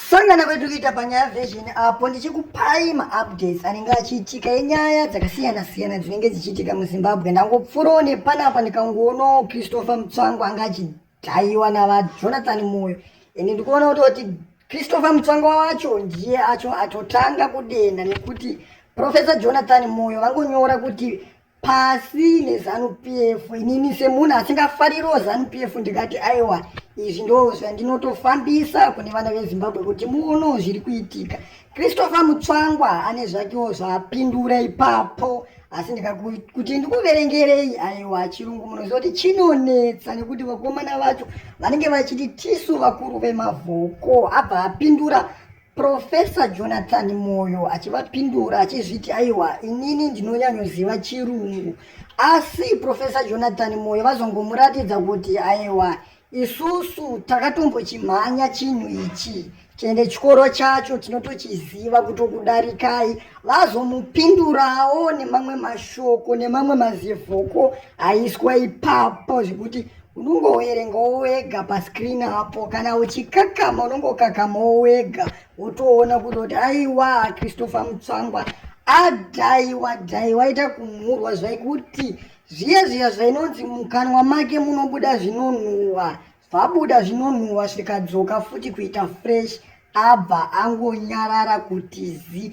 Sangana kwedu kuita panyaya version apo ndichikupai maupdates anenge achiitika enyaya dzakasiyana siyana dzinenge dzichiitika muzimbabwe ndangopfurawo nepanapa ndikangoonawo christopher mutsvango anga achidhaiwa navajonathan moyo ende ndikuona kuti kuti christopher mutsvango wacho ndiye acho atotanga kudenha nekuti professor jonathan moyo vangonyora kuti pasi nezanu pf inini semunhu asingafaririwo zanu pf ndikati aiwa izvi ndo zvandinotofambisa kune vana vezimbabwe kuti muono zviri kuitika christopher mutsvangwa ane zvakewo zvaapindura ipapo asi ndikakuti ndikuverengerei aiwa chirungu munoziva kuti chinonetsa nekuti vakomana vacho vanenge vachiti tisu vakuru vemavhoko abva apindura Profesa Jonathan Moyo achivapindura achizviti aiwa inini ndinonyanyoziva chirungu asi Profesa Jonathan Moyo vazongomuratidza kuti aiwa isusu takatombochimhanya chinhu ichi tiende chikoro chacho tinotochiziva kutokudarikai vazomupindurawo nemamwe mashoko nemamwe mazivhoko aiswa ipapo zvekuti unongoverengawo wega pascreen apo kana uchikakama unongokakamawo wega wotoona kuti kuti aiwa christopher mutsvangwa adhaiwa dhaiwa ita kumhurwa zvaikuti zviya zviya zvainonzi mukanwa make munobuda zvinonhuhwa zvabuda zvinonhuhwa zvikadzoka futi kuita fresh abva angonyarara kuti zi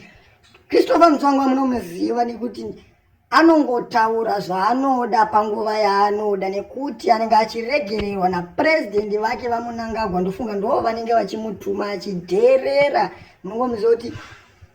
christopher mutsvangwa munomuziva nekuti anongotaura zvaanoda panguva yaanoda nekuti anenge achiregererwa napurezidendi vake vamunangagwa ndofunga ndoo vanenge vachimutuma achidherera munongomuziva kuti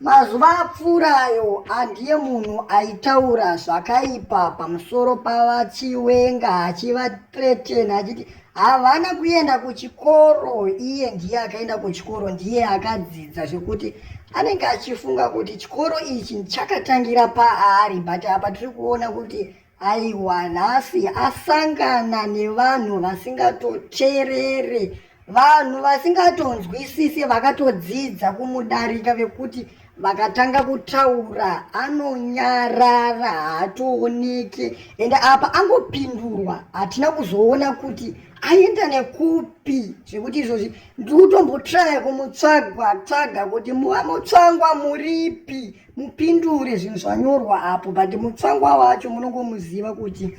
mazuva apfuurayo andiye munhu aitaura zvakaipa pamusoro pavachiwenga achivatretena achiti havana kuenda kuchikoro iye ndiye akaenda kuchikoro ndiye akadzidza zvekuti anenge achifunga kuti chikoro ichi chakatangira paari but apa tiri kuona kuti aiwa nhasi asangana nevanhu vasingatoterere vanhu vasingatonzwisise vakatodzidza kumudarika vekuti vakatanga kutaura anonyarara haatooneke ende apa angopindurwa hatina kuzoona kuti aenda nekupi zvekuti izvozvi ndikutombotraya kumutsvagwa tsvaga kuti muva mutsvangwa muripi mupindure zvinhu zvanyorwa apo but mutsvangwa wacho munongomuziva kuti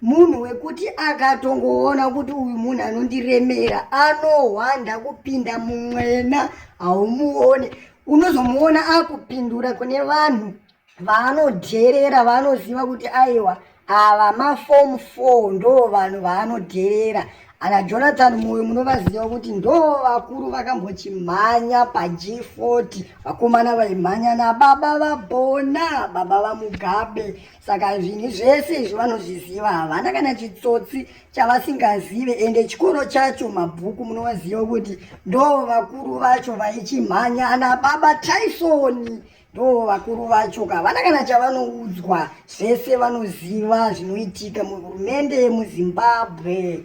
munhu wekuti akatongoona kuti uyu munhu anondiremera anohwanda kupinda mumwena haumuone unozomuona akupindura kune vanhu vaanodherera vaanoziva kuti aiwa ava mafomu four ndo vanhu vaanodherera ana jonathan moyo munovaziva kuti ndo vakuru vakambochimhanya pag 40 vakomana vaimhanya nababa vabona baba vamugabe saka zvinhu zvese izvo vanozviziva havana kana chitsotsi chavasingazive ende chikoro chacho mabhuku munovaziva kuti ndo vakuru vacho vaichimhanya ana baba taisoni ndo vakuru vacho ka havana kana chavanoudzwa zvese vanoziva zvinoitika muhurumende yemuzimbabwe